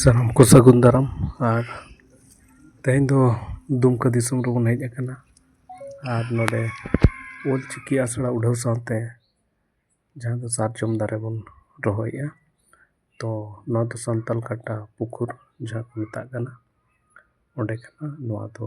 ᱥᱟᱱᱟᱢ ᱠᱚ ᱥᱟᱹᱜᱩᱱ ᱫᱟᱨᱟᱢ ᱟᱨ ᱛᱮᱦᱮᱧ ᱫᱚ ᱫᱩᱢᱠᱟᱹ ᱫᱤᱥᱚᱢ ᱨᱮᱵᱚᱱ ᱦᱮᱡ ᱟᱠᱟᱱᱟ ᱟᱨ ᱱᱚᱰᱮ ᱚᱞ ᱪᱤᱠᱤ ᱟᱥᱲᱟ ᱩᱰᱷᱟᱹᱣ ᱥᱟᱶᱛᱮ ᱡᱟᱦᱟᱸ ᱫᱚ ᱥᱟᱨᱡᱚᱢ ᱫᱟᱨᱮ ᱵᱚᱱ ᱨᱚᱦᱚᱭᱮᱜᱼᱟ ᱛᱚ ᱱᱚᱣᱟ ᱫᱚ ᱥᱟᱱᱛᱟᱲ ᱠᱟᱴᱟ ᱯᱩᱠᱩᱨ ᱡᱟᱦᱟᱸ ᱠᱚ ᱢᱮᱛᱟᱜ ᱠᱟᱱᱟ ᱚᱸᱰᱮ ᱠᱟᱱᱟ ᱱᱚᱣᱟ ᱫᱚ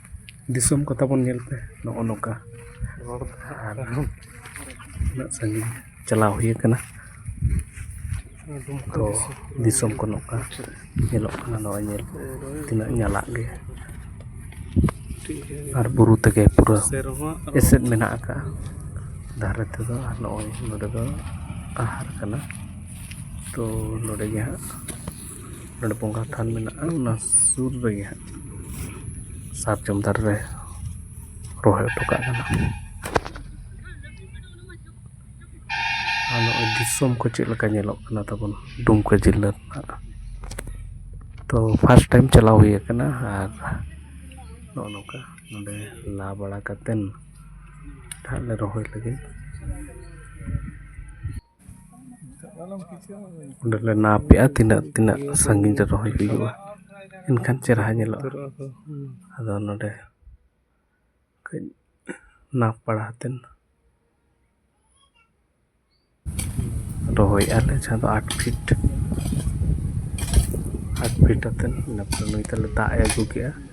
ᱫᱤᱥᱚᱢ ᱠᱚ ᱛᱟᱵᱚᱱ ᱧᱮᱞ ᱯᱮ ᱱᱚᱜᱼᱚ ᱱᱚᱝᱠᱟ ᱨᱚᱲ ᱟᱨ ᱩᱱᱟᱹᱜ ᱥᱟᱺᱜᱤᱧ ᱪᱟᱞᱟᱣ ᱦᱩᱭ ᱠᱟᱱᱟ ᱛᱚ ᱫᱤᱥᱚᱢ ᱠᱚ ᱱᱚᱝᱠᱟ ᱧᱮᱞᱚᱜ ᱠᱟᱱᱟ ᱱᱚᱣᱟ ᱧᱮᱞ ᱛᱤᱱᱟᱹᱜ ᱧᱟᱞᱟᱫ ᱜᱮ ᱟᱨ ᱵᱩᱨᱩ ᱛᱮᱜᱮ ᱯᱩᱨᱟᱹ ᱮᱥᱮᱫ ᱢᱮᱱᱟᱜ ᱠᱟᱜᱼᱟ ᱫᱷᱟᱨᱮ ᱛᱮᱫᱚ ᱟᱨ ᱱᱚᱜᱼᱚᱭ ᱱᱚᱰᱮ ᱫᱚ ᱟᱦᱟᱨ ᱠᱟᱱᱟ ᱛᱚ ᱱᱚᱰᱮ ᱜᱮ ᱦᱟᱸᱜ ᱱᱚᱰᱮ ᱵᱚᱸᱜᱟ ᱛᱷᱟᱱ ᱢᱮᱱᱟᱜᱼᱟ ᱚᱱᱟ ᱥᱩᱨ ᱨᱮᱜᱮ ᱦᱟᱸᱜ ᱥᱟᱨᱡᱚᱢ ᱫᱟᱨᱮ ᱨᱮ ᱨᱚᱦᱚᱭ ᱦᱚᱴᱚ ᱠᱟᱜ ᱠᱟᱱᱟ ᱟᱨ ᱱᱚᱜᱼᱚᱸᱭ ᱫᱤᱥᱚᱢ ᱠᱚ ᱪᱮᱫ ᱞᱮᱠᱟ ᱧᱮᱞᱚᱜ ᱠᱟᱱᱟ ᱛᱟᱵᱚᱱ ᱫᱩᱢᱠᱟᱹ ᱡᱤᱞᱟᱹ ᱨᱮᱱᱟᱜ ᱛᱚ ᱯᱷᱟᱥᱴ ᱴᱟᱭᱤᱢ ᱪᱟᱞᱟᱣ ᱦᱩᱭ ᱠᱟᱱᱟ ᱟᱨ ᱱᱚᱜᱼᱚᱸᱭ ᱱᱚᱝᱠᱟ ᱱᱚᱰᱮ ᱞᱟ ᱵᱟᱲᱟ ᱠᱟᱛᱮ ᱦᱟᱸᱜ ᱞᱮ ᱨᱚᱦᱚᱭ ᱞᱟᱹᱜᱤᱫ ᱚᱸᱰᱮ ᱞᱮ ᱱᱟᱯᱮᱜᱼᱟ ᱛᱤᱱᱟᱹᱜ ᱛᱤᱱᱟᱹᱜ ᱥᱟᱺᱜᱤᱧ ᱨᱮ ᱨᱚᱦᱚᱭ ᱦᱩᱭᱩᱜᱼᱟ ᱮᱱᱠᱷᱟᱱ ᱪᱮᱦᱨᱟ ᱧᱮᱞᱚᱜᱼᱟ ᱟᱫᱚ ᱱᱚᱰᱮ ᱠᱟᱹᱡ ᱱᱟᱯ ᱵᱟᱲᱟ ᱠᱟᱛᱮᱫ ᱨᱚᱦᱚᱭᱮᱜᱼᱟ ᱞᱮ ᱡᱟᱦᱟᱸ ᱫᱚ ᱟᱴ ᱯᱷᱤᱴ ᱟᱴ ᱯᱷᱤᱴ ᱠᱟᱛᱮᱫ ᱤᱱᱟᱹ ᱯᱚᱨᱮ ᱱᱩᱭ ᱛᱟᱞᱮ ᱫᱟᱜ ᱮ ᱟᱹᱜᱩ ᱠᱮᱫᱼᱟ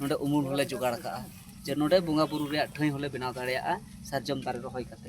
ᱱᱚᱰᱮ ᱩᱢᱩᱞ ᱦᱚᱸᱞᱮ ᱡᱚᱜᱟᱲ ᱟᱠᱟᱫᱼᱟ ᱡᱮ ᱱᱚᱰᱮ ᱵᱚᱸᱜᱟ ᱵᱩᱨᱩ ᱨᱮᱭᱟᱜ ᱴᱷᱟᱹᱭ ᱦᱚᱸᱞᱮ ᱵᱮᱱᱟᱣ ᱫᱟᱲᱮᱭᱟᱜᱼᱟ ᱥᱟᱨᱡᱚᱢ ᱫᱟᱨᱮ ᱨᱚᱦᱚᱭ ᱠᱟᱛᱮ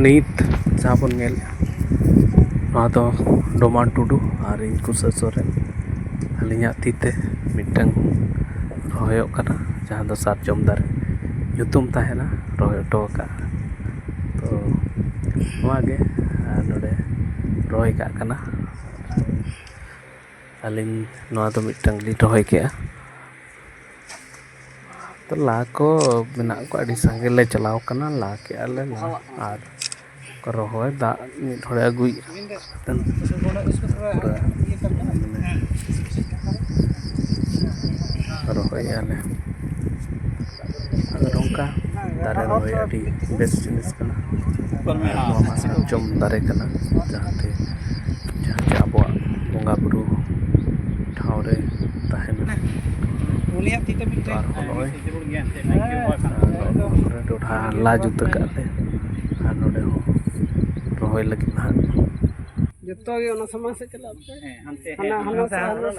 ᱱᱤᱛ ᱡᱟᱦᱟᱸ ᱵᱚᱱ ᱧᱮᱞ ᱱᱚᱣᱟ ᱫᱚ ᱰᱚᱢᱟᱱ ᱴᱩᱰᱩ ᱟᱨ ᱤᱧ ᱠᱩᱥᱟᱹ ᱥᱚᱨᱮᱱ ᱟᱹᱞᱤᱧᱟᱜ ᱛᱤ ᱛᱮ ᱢᱤᱫᱴᱟᱹᱝ ᱨᱚᱦᱚᱭᱚᱜ ᱠᱟᱱᱟ ᱡᱟᱦᱟᱸ ᱫᱚ ᱥᱟᱨᱡᱚᱢ ᱫᱟᱨᱮ ᱧᱩᱛᱩᱢ ᱛᱟᱦᱮᱱᱟ ᱨᱚᱦᱚᱭ ᱦᱚᱴᱚ ᱟᱠᱟᱫ ᱛᱚ ᱱᱚᱣᱟ ᱜᱮ ᱟᱨ ᱱᱚᱰᱮ ᱨᱚᱦᱚᱭ ᱠᱟᱜ ᱠᱟᱱᱟ ᱟᱹᱞᱤᱧ ᱱᱚᱣᱟ ᱫᱚ ᱢᱤᱫᱴᱟᱝ ᱞᱤᱧ ᱨᱚᱦᱚᱭ ᱠᱮᱜᱼᱟ ᱛᱚ ᱞᱟ ᱠᱚ ᱢᱮᱱᱟᱜ ᱠᱚᱣᱟ ᱟᱹᱰᱤ ᱥᱟᱸᱜᱮ ᱞᱮ ᱪᱟᱞᱟᱣ ᱠᱟᱱᱟ ᱞᱟ ᱠᱮᱜᱼᱟ ᱞᱮ ᱞᱟ ᱟᱨ ᱨᱚᱦᱚᱭ ᱫᱟᱜ ᱢᱤᱫ ᱦᱚᱲᱮ ᱟᱹᱜᱩᱭᱮᱜᱼᱟ ᱨᱚᱦᱚᱭᱮᱜᱼᱟ ᱞᱮ ᱟᱫᱚ ᱱᱚᱝᱠᱟ ᱫᱟᱨᱮ ᱨᱚᱦᱚᱭ ᱟᱹᱰᱤ ᱵᱮᱥ ᱡᱤᱱᱤᱥ ᱠᱟᱱᱟ ᱱᱚᱣᱟ ᱢᱟ ᱥᱟᱨᱡᱚᱢ ᱫᱟᱨᱮ ᱠᱟᱱᱟ ᱡᱟᱦᱟᱸ ᱛᱮ ᱡᱟᱦᱟᱸ ᱛᱮ ᱟᱵᱚᱣᱟᱜ ᱵᱚᱸᱜᱟᱼᱵᱩᱨᱩ ᱴᱷᱟᱶ ᱨᱮ ᱛᱟᱦᱮᱱᱟ ᱟᱨᱦᱚᱸ ᱱᱚᱜᱼᱚᱭ ᱰᱚᱰᱷᱟ ᱞᱟ ᱡᱩᱛ ᱠᱟᱜᱼᱟ ᱞᱮ ᱟᱨ ᱱᱚᱰᱮ ᱦᱚᱸ ᱨᱚᱦᱚᱭ ᱞᱟᱹᱜᱤᱫ ᱦᱟᱸᱜ ᱡᱚᱛᱚᱜᱮ ᱚᱱᱟ ᱥᱟᱢᱟᱝ ᱥᱮᱫ ᱪᱟᱞᱟᱜ ᱯᱮ ᱦᱟᱱᱟ ᱦᱟᱱᱟ ᱥᱮᱫ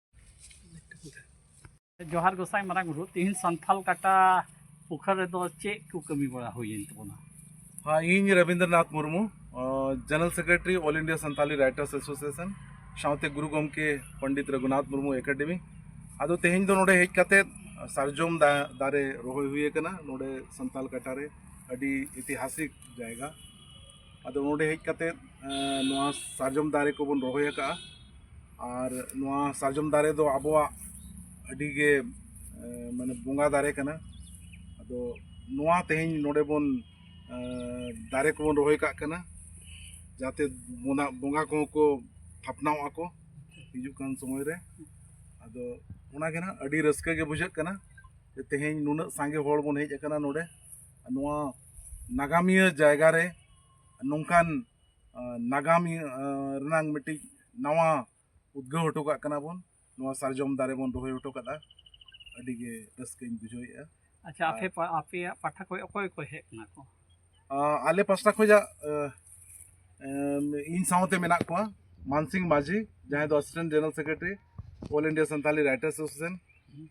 ᱡᱚᱦᱟᱨ ᱜᱚᱥᱟᱭ ᱢᱟᱨᱟᱝ ᱵᱩᱨᱩ ᱛᱤᱦᱤᱧ ᱥᱟᱱᱛᱷᱟᱞ ᱠᱟᱴᱟ ᱯᱩᱠᱷᱟᱨ ᱨᱮᱫᱚ ᱪᱮᱫ ᱠᱚ ᱠᱟᱹᱢᱤ ᱵᱟᱲᱟ ᱦᱩᱭᱮᱱ ᱛᱟᱵᱚᱱᱟ ᱦᱮᱸ ᱤᱧ Rabindranath Murmu general secretary all India Santali writers association ᱥᱟᱶᱛᱮ ᱜᱩᱨᱩ ᱜᱚᱢᱠᱮ ᱯᱚᱱᱰᱤᱛ ᱨᱚᱜᱷᱩᱱᱟᱛᱷ ᱢᱩᱨᱢᱩ ᱮᱠᱟᱰᱮᱢᱤ ᱟᱫᱚ ᱛᱮᱦᱮᱧ ᱫᱚ ᱱᱚᱰᱮ ᱦᱮᱡ ᱠᱟᱛᱮ ᱥᱟᱨᱡᱚᱢ ᱫᱟᱨᱮ ᱨᱚᱦᱚᱭ ᱦᱩᱭ ᱟᱠᱟᱱᱟ ᱱᱚᱰᱮ ᱥᱟᱱᱛᱟᱞ ᱠᱟᱴᱟ ᱨᱮ ᱟᱹᱰᱤ ᱤᱛᱤᱦᱟᱥᱤᱠ ᱡᱟᱭᱜᱟ ᱟᱫᱚ ᱱᱚᱰᱮ ᱦᱮᱡ ᱠᱟᱛᱮ ᱱᱚᱣᱟ ᱥᱟᱨᱡᱚᱢ ᱫᱟᱨᱮ ᱠᱚᱵᱚᱱ ᱨᱚᱦᱚᱭ ᱟᱠᱟᱫᱼᱟ ᱟᱨ ᱱᱚᱣᱟ ᱥᱟᱨᱡᱚᱢ ᱫᱟᱨᱮ ᱫᱚ ᱟᱵᱚᱣᱟᱜ ᱟᱹᱰᱤ ᱜᱮ ᱢᱟᱱᱮ ᱵᱚᱸᱜᱟ ᱫᱟᱨᱮ ᱠᱟᱱᱟ ᱟᱫᱚ ᱱᱚᱣᱟ ᱛᱮᱦᱮᱧ ᱱᱚᱰᱮ ᱵᱚᱱ ᱫᱟᱨᱮ ᱠᱚᱵᱚᱱ ᱨᱚᱦᱚᱭ ᱠᱟᱜ ᱠᱟᱱᱟ ᱡᱟᱛᱮ ᱵᱚᱸᱜᱟ ᱵᱚᱸᱜᱟ ᱠᱚᱦᱚᱸ ᱠᱚ ᱛᱷᱟᱯᱱᱟᱣ ᱟᱠᱚ ᱦᱤᱡᱩᱜ ᱠᱟᱱ ᱥᱚᱢᱚᱭ ᱨᱮ ᱟᱫᱚ ᱚᱱᱟ ᱜᱮ ᱱᱟᱦᱟᱜ ᱟᱹᱰᱤ ᱨᱟᱹᱥᱠᱟᱹ ᱜᱮ ᱵᱩᱡᱷᱟᱹᱜ ᱠᱟᱱᱟ ᱛᱮᱦᱮᱧ ᱱᱩᱱᱟᱹᱜ ᱥᱟᱸᱜᱮ ᱦᱚᱲ ᱵᱚᱱ ᱦᱮᱡ ᱟᱠᱟᱱᱟ ᱱᱚᱰᱮ ᱱᱚᱣᱟ ᱱᱟᱜᱟᱢᱤᱭᱟᱹ ᱡᱟᱭᱜᱟ ᱨᱮ ᱱᱚᱝᱠᱟᱱ ᱱᱟᱜᱟᱢ ᱨᱮᱱᱟᱝ ᱢᱤᱫᱴᱤᱡ ᱱᱟᱣᱟ ᱩᱫᱽᱜᱟᱹᱣ ᱦᱚᱴᱚ ᱠᱟᱜ ᱠᱟᱱᱟ ᱵᱚᱱ ᱱᱚᱣᱟ ᱥᱟᱨᱡᱚᱢ ᱫᱟᱨᱮ ᱵᱚᱱ ᱨᱚᱦᱚᱭ ᱦᱚᱴᱚ ᱠᱟᱫᱟ ᱟᱹᱰᱤ ᱜᱮ ᱨᱟᱹᱥᱠᱟᱹᱧ ᱵᱩᱡᱷᱟᱹᱣᱮᱫᱼᱟ ᱟᱪᱪᱷᱟ ᱟᱯᱮ ᱟᱯᱮᱭᱟᱜ ᱯᱟᱦᱴᱟ ᱠᱷᱚᱱ ᱚᱠᱚᱭ ᱠᱚ ᱦᱮᱡ ᱠᱟᱱᱟ ᱠᱚ ᱟᱞᱮ ᱯᱟᱥᱴᱟ ᱠᱷᱚᱱᱟᱜ ᱤᱧ ᱥᱟᱶᱛᱮ ᱢᱮᱱᱟᱜ ᱠᱚᱣᱟ ᱢᱟᱱᱥᱤᱝ ᱢᱟᱹᱡᱷᱤ ᱡᱟᱦᱟᱸᱭ ᱫᱚ assistant general secretary all India Santali writers association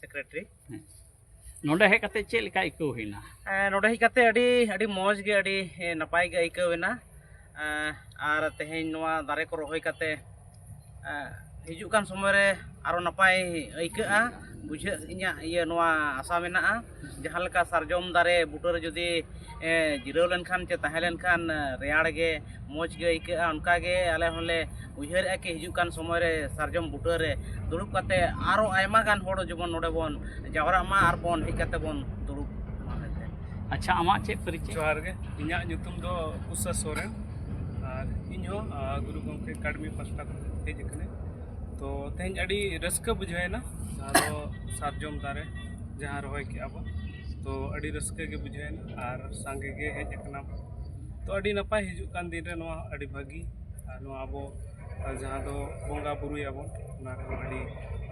secretary ᱱᱚᱰᱮ ᱦᱮᱡ ᱠᱟᱛᱮ ᱪᱮᱫ ᱞᱮᱠᱟ ᱟᱹᱭᱠᱟᱹᱣ ᱦᱩᱭᱱᱟ ᱱᱚᱰᱮ ᱦᱮᱡ ᱠᱟᱛᱮ ᱟᱹᱰᱤ ᱟᱹᱰᱤ ᱢᱚᱡᱽ ᱜᱮ ᱟᱹᱰᱤ ᱱᱟᱯᱟᱭ ᱜᱮ ᱟᱹᱭᱠᱟᱹᱣ ᱮᱱᱟ ᱟᱨ ᱛᱮᱦᱮᱧ ᱱᱚᱣᱟ ᱫᱟᱨᱮ ᱠᱚ ᱨᱚᱦᱚᱭ ᱠᱟᱛᱮ ᱦᱤᱡᱩᱜ ᱠᱟᱱ ᱥᱚᱢᱚᱭ ᱨᱮ ᱟᱨᱚ ᱱᱟᱯᱟᱭ ᱟᱹᱭᱠᱟᱹᱜᱼᱟ ᱵᱩᱡᱷᱟᱹᱜ ᱤᱧᱟᱹᱜ ᱤᱭᱟᱹ ᱱᱚᱣᱟ ᱟᱥᱟ ᱢᱮᱱᱟᱜᱼᱟ ᱡᱟᱦᱟᱸ ᱞᱮᱠᱟ ᱥᱟᱨᱡᱚᱢ ᱫᱟᱨᱮ ᱵᱩᱴᱟᱹ ᱨᱮ ᱡᱩᱫᱤ ᱡᱤᱨᱟᱹᱣ ᱞᱮᱱᱠᱷᱟᱱ ᱪᱮ ᱛᱟᱦᱮᱸ ᱞᱮᱱᱠᱷᱟᱱ ᱨᱮᱭᱟᱲ ᱜᱮ ᱢᱚᱡᱽ ᱜᱮ ᱟᱹᱭᱠᱟᱹᱜᱼᱟ ᱚᱱᱠᱟ ᱜᱮ ᱟᱞᱮ ᱦᱚᱸᱞᱮ ᱩᱭᱦᱟᱹᱨᱮᱜᱼᱟ ᱠᱤ ᱦᱤᱡᱩᱜ ᱠᱟᱱ ᱥᱚᱢᱚᱭ ᱨᱮ ᱥᱟᱨᱡᱚᱢ ᱵᱩᱴᱟᱹ ᱨᱮ ᱫᱩᱲᱩᱵ ᱠᱟᱛᱮ ᱟᱨᱚ ᱟᱭᱢᱟ ᱜᱟᱱ ᱦᱚᱲ ᱡᱮᱢᱚᱱ ᱱᱚᱰᱮ ᱵᱚᱱ ᱡᱟᱣᱨᱟᱜ ᱢᱟ ᱟᱨ ᱵᱚᱱ ᱦᱮᱡ ᱠᱟᱛᱮ ᱵᱚᱱ ᱫᱩᱲᱩᱵ ᱢᱟ ᱢᱮᱱᱛᱮ ᱟᱪᱪᱷᱟ ᱟᱢᱟᱜ ᱪᱮᱫ ᱯᱚᱨᱤᱪᱚᱭ ᱡᱚᱦᱟᱨ ᱜᱮ ᱤᱧᱟᱹᱜ ᱧᱩᱛᱩᱢ ᱫᱚ ᱠᱩᱥᱟ ᱥᱚᱨᱮᱱ ᱟᱨ ᱤᱧ ᱦᱚᱸ ᱜᱩᱨᱩ ᱜᱚᱢᱠᱮ ᱮᱠᱟᱰᱮᱢᱤ ᱯᱟᱥᱴᱟ ᱠᱷᱚᱱ ᱦᱮᱡ ᱟᱠᱟᱱᱟᱹᱧ ᱛᱚ ᱛᱮᱦᱮᱧ ᱟᱹᱰᱤ ᱨᱟᱹᱥᱠᱟᱹ ᱵᱩᱡᱷᱟᱹᱣᱮᱱᱟ ᱟᱫᱚ ᱥᱟᱨᱡᱚᱢ ᱫᱟᱨᱮ ᱡᱟᱦᱟᱸ ᱨᱚᱦᱚᱭ ᱠᱮᱜᱼᱟ ᱵᱚᱱ ᱛᱚ ᱟᱹᱰᱤ ᱨᱟᱹᱥᱠᱟᱹ ᱜᱮ ᱵᱩᱡᱷᱟᱹᱣᱮᱱᱟ ᱟᱨ ᱥᱟᱸᱜᱮ ᱜᱮ ᱦᱮᱡ ᱟᱠᱟᱱᱟ ᱵᱚᱱ ᱛᱚ ᱟᱹᱰᱤ ᱱᱟᱯᱟᱭ ᱦᱤᱡᱩᱜ ᱠᱟᱱ ᱫᱤᱱ ᱨᱮ ᱱᱚᱣᱟ ᱟᱹᱰᱤ ᱵᱷᱟᱹᱜᱤ ᱟᱨ ᱱᱚᱣᱟ ᱟᱵᱚ ᱡᱟᱦᱟᱸ ᱫᱚ ᱵᱚᱸᱜᱟ ᱵᱳᱨᱳᱭᱟᱵᱚᱱ ᱚᱱᱟ ᱨᱮᱦᱚᱸ ᱟᱹᱰᱤ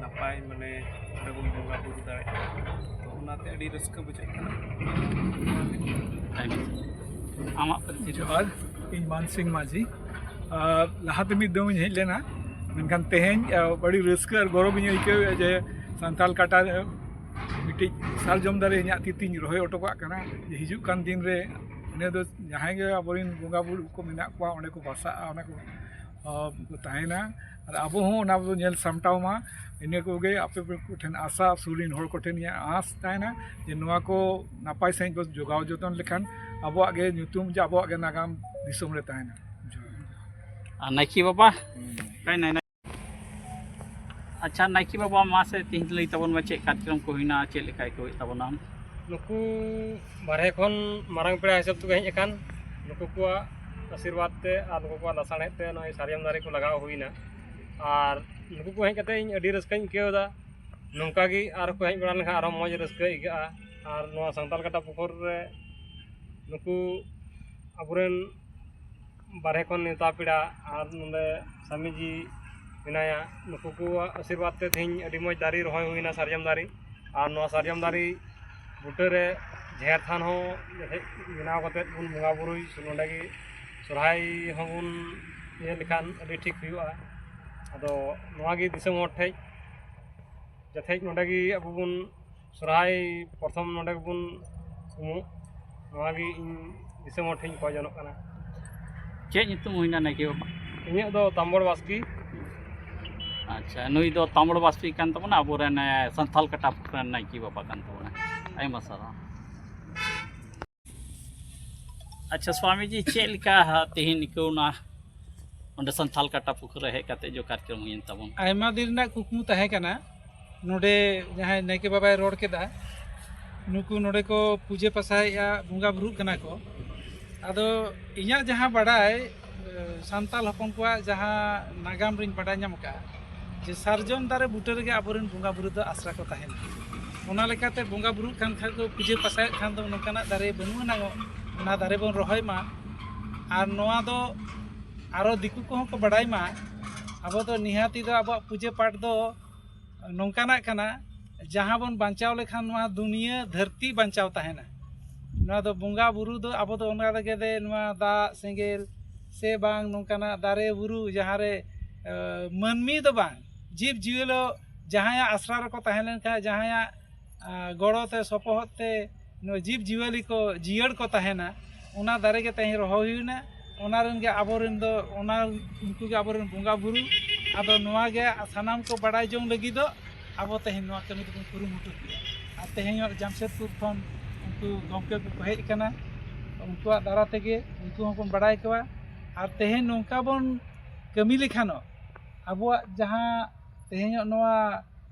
ᱱᱟᱯᱟᱭ ᱢᱟᱱᱮ ᱚᱸᱰᱮ ᱵᱚᱱ ᱵᱚᱸᱜᱟ ᱵᱳᱨᱳ ᱫᱟᱲᱮᱭᱟᱜᱼᱟ ᱛᱚ ᱚᱱᱟᱛᱮ ᱟᱹᱰᱤ ᱨᱟᱹᱥᱠᱟᱹ ᱵᱩᱡᱷᱟᱹᱜ ᱠᱟᱱᱟ ᱟᱢᱟᱜ ᱯᱟᱹᱨᱥᱤ ᱡᱚᱦᱟᱨ ᱤᱧ ᱢᱟᱱ ᱥᱤᱝ ᱢᱟᱹᱡᱷᱤ ᱞᱟᱦᱟᱛᱮ ᱢᱤᱫ ᱫᱚᱢ ᱤᱧ ᱦᱮᱡ ᱞᱮᱱᱟ ᱢᱮᱱᱠᱷᱟᱱ ᱛᱮᱦᱮᱧ ᱟᱹᱰᱤ ᱨᱟᱹᱥᱠᱟᱹ ᱟᱨ ᱜᱚᱨᱚᱵᱽ ᱤᱧ ᱟᱹᱭᱠᱟᱹᱣ ᱮᱫᱟ ᱡᱮ ᱥᱟᱱᱛᱟᱲ ᱠᱟᱴᱟ ᱨᱮ ᱢᱤᱫᱴᱤᱡ ᱥᱟᱨᱡᱚᱢ ᱫᱟᱨᱮ ᱤᱧᱟᱹᱜ ᱛᱤ ᱛᱤᱧ ᱨᱚᱦᱚᱭ ᱦᱚᱴᱚ ᱠᱟᱜ ᱠᱟᱱᱟ ᱦᱤᱡᱩᱜ ᱠᱟᱱ ᱫᱤᱱ ᱨᱮ ᱤᱱᱟᱹ ᱫᱚ ᱡᱟᱦᱟᱸᱭ ᱜᱮ ᱟᱵᱚ ᱨᱮᱱ ᱵᱚᱸᱜᱟᱼᱵᱩᱨᱩ ᱠᱚ ᱢᱮᱱᱟᱜ ᱠᱚᱣᱟ ᱚᱸᱰᱮ ᱠᱚ ᱵᱟᱥᱟᱜᱼᱟ ᱚᱸᱰᱮ ᱠᱚ ᱛᱟᱦᱮᱱᱟ ᱟᱨ ᱟᱵᱚ ᱦᱚᱸ ᱚᱱᱟ ᱵᱚᱱ ᱧᱮᱞ ᱥᱟᱢᱴᱟᱣ ᱢᱟ ᱤᱱᱟᱹ ᱠᱚᱜᱮ ᱟᱯᱮ ᱠᱚᱴᱷᱮᱱ ᱟᱥᱟ ᱥᱩᱨ ᱨᱮᱱ ᱦᱚᱲ ᱠᱚᱴᱷᱮᱱ ᱤᱧᱟᱹᱜ ᱟᱸᱥ ᱛᱟᱦᱮᱱᱟ ᱡᱮ ᱱᱚᱣᱟ ᱠᱚ ᱱᱟᱯᱟᱭ ᱥᱟᱺᱦᱤᱡ ᱵᱚᱱ ᱡᱳᱜᱟᱣ ᱡᱚᱛᱚᱱ ᱞᱮᱠᱷᱟᱱ ᱟᱵᱚᱣᱟᱜ ᱜᱮ ᱧᱩᱛᱩᱢ ᱡᱮ ᱟᱵᱚᱣᱟᱜ ᱜᱮ ᱱᱟᱜᱟᱢ ᱫᱤᱥᱚᱢ ᱨᱮ ᱛᱟᱦᱮᱱᱟ ᱟᱨ ᱱᱟᱭᱠᱮ ᱵᱟᱵᱟ ᱟᱪᱪᱷᱟ ᱱᱟᱭᱠᱮ ᱵᱟᱵᱟ ᱢᱟᱥᱮ ᱛᱮᱦᱮᱧ ᱞᱟᱹᱭ ᱛᱟᱵᱚᱱ ᱢᱮ ᱪᱮᱫ ᱠᱟᱨᱡᱚᱠᱨᱚᱢ ᱠᱚ ᱦᱩᱭᱱᱟ ᱪᱮᱫ ᱞᱮᱠᱟ ᱟᱹᱭᱠᱟᱹᱣᱮᱫ ᱛᱟᱵᱚᱱᱟᱢ ᱱᱩᱠᱩ ᱵᱟᱨᱦᱮ ᱠᱷᱚᱱ ᱢᱟᱨᱟᱝ ᱯᱮᱲᱟ ᱦᱤᱥᱟᱹᱵ ᱛᱮᱠᱚ ᱦᱮᱡ ᱟᱠᱟᱱ ᱱᱩᱠᱩ ᱠᱚᱣᱟᱜ ᱟᱥᱤᱨᱵᱟᱫᱽ ᱛᱮ ᱟᱨ ᱱᱩᱠᱩ ᱠᱚᱣᱟᱜ ᱞᱟᱥᱟᱬᱦᱮᱫ ᱛᱮ ᱱᱚᱜᱼᱚᱭ ᱥᱟᱨᱡᱚᱢ ᱫᱟᱨᱮ ᱠᱚ ᱞᱟᱜᱟᱣ ᱦᱩᱭᱱᱟ ᱟᱨ ᱱᱩᱠᱩ ᱠᱚ ᱦᱮᱡ ᱠᱟᱛᱮᱫ ᱤᱧ ᱟᱹᱰᱤ ᱨᱟᱹᱥᱠᱟᱹᱧ ᱟᱹᱭᱠᱟᱹᱣ ᱮᱫᱟ ᱱᱚᱝᱠᱟ ᱜᱮ ᱟᱨ ᱠᱚ ᱦᱮᱡ ᱵᱟᱲᱟ ᱞᱮᱱᱠᱷᱟᱱ ᱟᱨᱚ ᱢᱚᱡᱽ ᱨᱟᱹᱥᱠᱟᱹ ᱟᱹᱭᱠᱟᱹᱜᱼᱟ ᱟᱨ ᱱᱚᱣᱟ ᱥᱟᱱᱛᱟᱲ ᱠᱟᱴᱟ ᱯᱩᱠᱩᱨ ᱨᱮ ᱱᱩᱠᱩ ᱟᱵᱚ ᱨᱮᱱ ᱵᱟᱨᱦᱮ ᱠᱷᱚᱱ ᱱᱮᱣᱛᱟ ᱯᱮᱲᱟ ᱟᱨ ᱱᱚᱰᱮ ᱥᱟᱢᱤ ᱡᱤ ᱢᱮᱱᱟᱭᱟ ᱱᱩᱠᱩ ᱠᱚᱣᱟᱜ ᱟᱥᱤᱨᱵᱟᱫᱽ ᱛᱮ ᱛᱮᱦᱮᱧ ᱟᱹᱰᱤ ᱢᱚᱡᱽ ᱫᱟᱨᱮ ᱨᱚᱦᱚᱭ ᱦᱩᱭᱱᱟ ᱥᱟᱨᱡᱚᱢ ᱫᱟᱨᱮ ᱟᱨ ᱱᱚᱣᱟ ᱥᱟᱨᱡᱚᱢ ᱫᱟᱨᱮ ᱵᱩᱴᱟᱹ ᱨᱮ ᱡᱟᱦᱮᱨ ᱛᱷᱟᱱ ᱦᱚᱸ ᱦᱮᱡ ᱵᱮᱱᱟᱣ ᱠᱟᱛᱮᱫ ᱵᱚᱱ ᱵᱚᱸᱜᱟ ᱵᱳᱨᱳᱭ ᱱᱚᱰᱮ ᱜᱮ ᱥᱚᱦᱨᱟᱭ ᱦᱚᱸᱵᱚᱱ ᱤᱭᱟᱹ ᱞᱮᱠᱷᱟᱱ ᱟᱹᱰᱤ ᱴᱷᱤᱠ ᱦᱩᱭᱩᱜᱼᱟ ᱟᱫᱚ ᱱᱚᱣᱟ ᱜᱮ ᱫᱤᱥᱚᱢ ᱦᱚᱲ ᱴᱷᱮᱱ ᱡᱟᱛᱮ ᱱᱚᱰᱮ ᱜᱮ ᱟᱵᱚ ᱵᱚᱱ ᱥᱚᱨᱦᱟᱭ ᱯᱨᱚᱛᱷᱚᱢ ᱱᱚᱰᱮ ᱜᱮᱵᱚᱱ ᱩᱢᱩᱜ ᱱᱚᱣᱟᱜᱮ ᱤᱧ ᱫᱤᱥᱚᱢ ᱦᱚᱲ ᱴᱷᱮᱱ ᱠᱷᱚᱡ ᱡᱚᱱᱚᱜ ᱠᱟᱱᱟ ᱪᱮᱫ ᱧᱩᱛᱩᱢ ᱦᱩᱭᱱᱟ ᱱᱟᱭᱠᱮ ᱵᱟᱵᱟ ᱤᱧᱟᱹᱜ ᱫᱚ ᱛᱟᱢᱵᱚᱲ ᱵᱟᱥᱠᱮ ᱟᱪᱪᱷᱟ ᱱᱩᱭ ᱫᱚ ᱛᱟᱢᱵᱚᱲ ᱵᱟᱥᱠᱮ ᱠᱟᱱ ᱛᱟᱵᱚᱱᱟ ᱟᱵᱚᱨᱮᱱ ᱥᱟᱱᱛᱟᱞ ᱠᱟᱴᱟᱯ ᱨᱮᱱ ᱱᱟᱭᱠᱮ ᱵᱟᱵᱟ ᱠᱟᱱ ᱛᱟᱵᱚᱱᱟ ᱟᱭᱢᱟ ᱥᱟᱨᱦᱟᱣ ᱟᱪᱪᱷᱟ ᱥᱣᱟᱢᱤᱡᱤ ᱪᱮᱫ ᱞᱮᱠᱟ ᱛᱮᱦᱮᱧ ᱟᱹᱭᱠᱟᱹᱣᱱᱟ ᱚᱸᱰᱮ ᱥᱟᱱᱛᱷᱟᱞ ᱠᱟᱴᱟ ᱯᱩᱠᱷᱩᱨ ᱨᱮ ᱦᱮᱡ ᱠᱟᱛᱮ ᱡᱚ ᱠᱟᱨᱡᱚᱢ ᱦᱩᱭᱮᱱ ᱛᱟᱵᱚᱱ ᱟᱭᱢᱟ ᱫᱤᱱ ᱨᱮᱱᱟᱜ ᱠᱩᱠᱢᱩ ᱛᱟᱦᱮᱸ ᱠᱟᱱᱟ ᱱᱚᱰᱮ ᱡᱟᱦᱟᱸᱭ ᱱᱟᱭᱠᱮ ᱵᱟᱵᱟᱭ ᱨᱚᱲ ᱠᱮᱫᱟ ᱱᱩᱠᱩ ᱱᱚᱰᱮ ᱠᱚ ᱯᱩᱡᱟᱹ ᱯᱟᱥᱟᱭᱮᱫᱼᱟ ᱵᱚᱸᱜᱟ ᱵᱩᱨᱩᱜ ᱠᱟᱱᱟ ᱠᱚ ᱟᱫᱚ ᱤᱧᱟᱹᱜ ᱡᱟᱦᱟᱸ ᱵᱟᱰᱟᱭ ᱥᱟᱱᱛᱟᱲ ᱦᱚᱯᱚᱱ ᱠᱚᱣᱟᱜ ᱡᱟᱦᱟᱸ ᱱᱟᱜᱟᱢ ᱨᱤᱧ ᱵᱟᱰᱟᱭ ᱧᱟᱢ ᱟᱠᱟᱫᱼᱟ ᱡᱮ ᱥᱟᱨᱡᱚᱢ ᱫᱟᱨᱮ ᱵᱩᱴᱟᱹ ᱨᱮᱜᱮ ᱟᱵᱚᱨᱮᱱ ᱵᱚᱸᱜᱟ ᱵᱩᱨᱩ ᱫᱚ ᱟᱥᱨᱟ ᱠᱚ ᱛᱟᱦᱮᱱᱟ ᱚᱱᱟ ᱞᱮᱠᱟᱛᱮ ᱵᱚᱸᱜᱟ ᱵᱩᱨᱩᱜ ᱠᱟᱱ ᱠᱷᱟᱱ ᱠᱚ ᱯᱩᱡᱟᱹ ᱯᱟᱥᱟᱭᱮᱫ ᱠᱷᱟᱱ ᱫᱚ ᱱᱚᱝᱠᱟᱱᱟᱜ ᱫᱟᱨᱮ ᱵᱟᱹᱱᱩᱜ ᱟᱱᱟᱝ ᱚᱱᱟ ᱫᱟᱨᱮ ᱵᱚᱱ ᱨᱚᱦᱚᱭ ᱢᱟ ᱟᱨ ᱱᱚᱣᱟ ᱫᱚ ᱟᱨᱚ ᱫᱤᱠᱩ ᱠᱚᱦᱚᱸ ᱠᱚ ᱵᱟᱰᱟᱭ ᱢᱟ ᱟᱵᱚ ᱫᱚ ᱱᱤᱦᱟᱹᱛᱤ ᱫᱚ ᱟᱵᱚᱣᱟᱜ ᱯᱩᱡᱟᱹ ᱯᱟᱴ ᱫᱚ ᱱᱚᱝᱠᱟᱱᱟᱜ ᱠᱟᱱᱟ ᱡᱟᱦᱟᱸ ᱵᱚᱱ ᱵᱟᱧᱪᱟᱣ ᱞᱮᱠᱷᱟᱱ ᱱᱚᱣᱟ ᱫᱩᱱᱤᱭᱟᱹ ᱫᱷᱟᱹᱨᱛᱤ ᱵᱟᱧᱪᱟᱣ ᱛᱟᱦᱮᱱᱟ ᱱᱚᱣᱟ ᱫᱚ ᱵᱚᱸᱜᱟ ᱵᱩᱨᱩ ᱫᱚ ᱟᱵᱚ ᱫᱚ ᱚᱱᱟ ᱞᱟᱹᱜᱤᱫ ᱛᱮ ᱱᱚᱣᱟ ᱫᱟᱜ ᱥᱮᱸᱜᱮᱞ ᱥᱮ ᱵᱟᱝ ᱱᱚᱝᱠᱟᱱᱟᱜ ᱫᱟᱨᱮ ᱵᱩᱨᱩ ᱡᱟᱦᱟᱸ ᱨᱮ ᱢᱟᱹᱱᱢᱤ ᱫᱚ ᱵᱟᱝ ᱡᱤᱵᱽ ᱡᱤᱭᱟᱹᱞᱤ ᱡᱟᱦᱟᱸᱭᱟᱜ ᱟᱥᱲᱟ ᱨᱮᱠᱚ ᱛᱟᱦᱮᱸ ᱞᱮᱱᱠᱷᱟᱱ ᱡᱟᱦᱟᱸᱭᱟᱜ ᱜᱚᱲᱚ ᱛᱮ ᱥᱚᱯᱚᱦᱚᱫ ᱛᱮ ᱱᱚᱣᱟ ᱡᱤᱵᱽ ᱡᱤᱭᱟᱹᱞᱤ ᱠᱚ ᱡᱤᱭᱟᱹᱲ ᱠᱚ ᱛᱟᱦᱮᱱᱟ ᱚᱱᱟ ᱫᱟᱨᱮ ᱜᱮ ᱛᱮᱦᱮᱧ ᱨᱚᱦᱚᱭ ᱦᱩᱭᱱᱟ ᱚᱱᱟ ᱨᱮᱱ ᱜᱮ ᱟᱵᱚ ᱨᱮᱱ ᱫᱚ ᱚᱱᱟ ᱩᱱᱠᱩ ᱜᱮ ᱟᱵᱚ ᱨᱮᱱ ᱵᱚᱸᱜᱟ ᱵᱩᱨᱩ ᱟᱫᱚ ᱱᱚᱣᱟ ᱜᱮ ᱥᱟᱱᱟᱢ ᱠᱚ ᱵᱟᱲᱟᱭ ᱡᱚᱝ ᱞᱟᱹᱜᱤᱫ ᱫᱚ ᱟᱵᱚ ᱛᱮᱦᱮᱧ ᱱᱚᱣᱟ ᱠᱟᱹᱢᱤ ᱫᱚᱵᱚᱱ ᱠᱩᱨᱩᱢᱩᱴᱩ ᱠᱮᱫᱟ ᱟᱨ ᱛᱮᱦᱮᱧ ᱦᱚᱸ ᱡᱟᱢᱥᱮᱫᱽᱯᱩᱨ ᱠᱷᱚᱱ ᱩᱱᱠᱩ ᱜᱚᱢᱠᱮ ᱠᱚᱠᱚ ᱦᱮᱡ ᱟᱠᱟᱱᱟ ᱩᱱᱠᱩᱣᱟᱜ ᱫᱟᱨᱟ ᱛᱮᱜᱮ ᱩᱱᱠᱩ ᱦᱚᱸᱵᱚᱱ ᱵᱟᱲᱟᱭ ᱠᱚᱣᱟ ᱟᱨ ᱛᱮᱦᱮᱧ ᱱᱚᱝᱠᱟ ᱵᱚᱱ ᱠᱟᱹᱢᱤ ᱞᱮᱠᱷᱟᱱᱚᱜ ᱟᱵᱚᱣᱟᱜ ᱡᱟᱦᱟᱸ ᱛᱮᱦᱮᱧᱚᱜ ᱱᱚᱣᱟ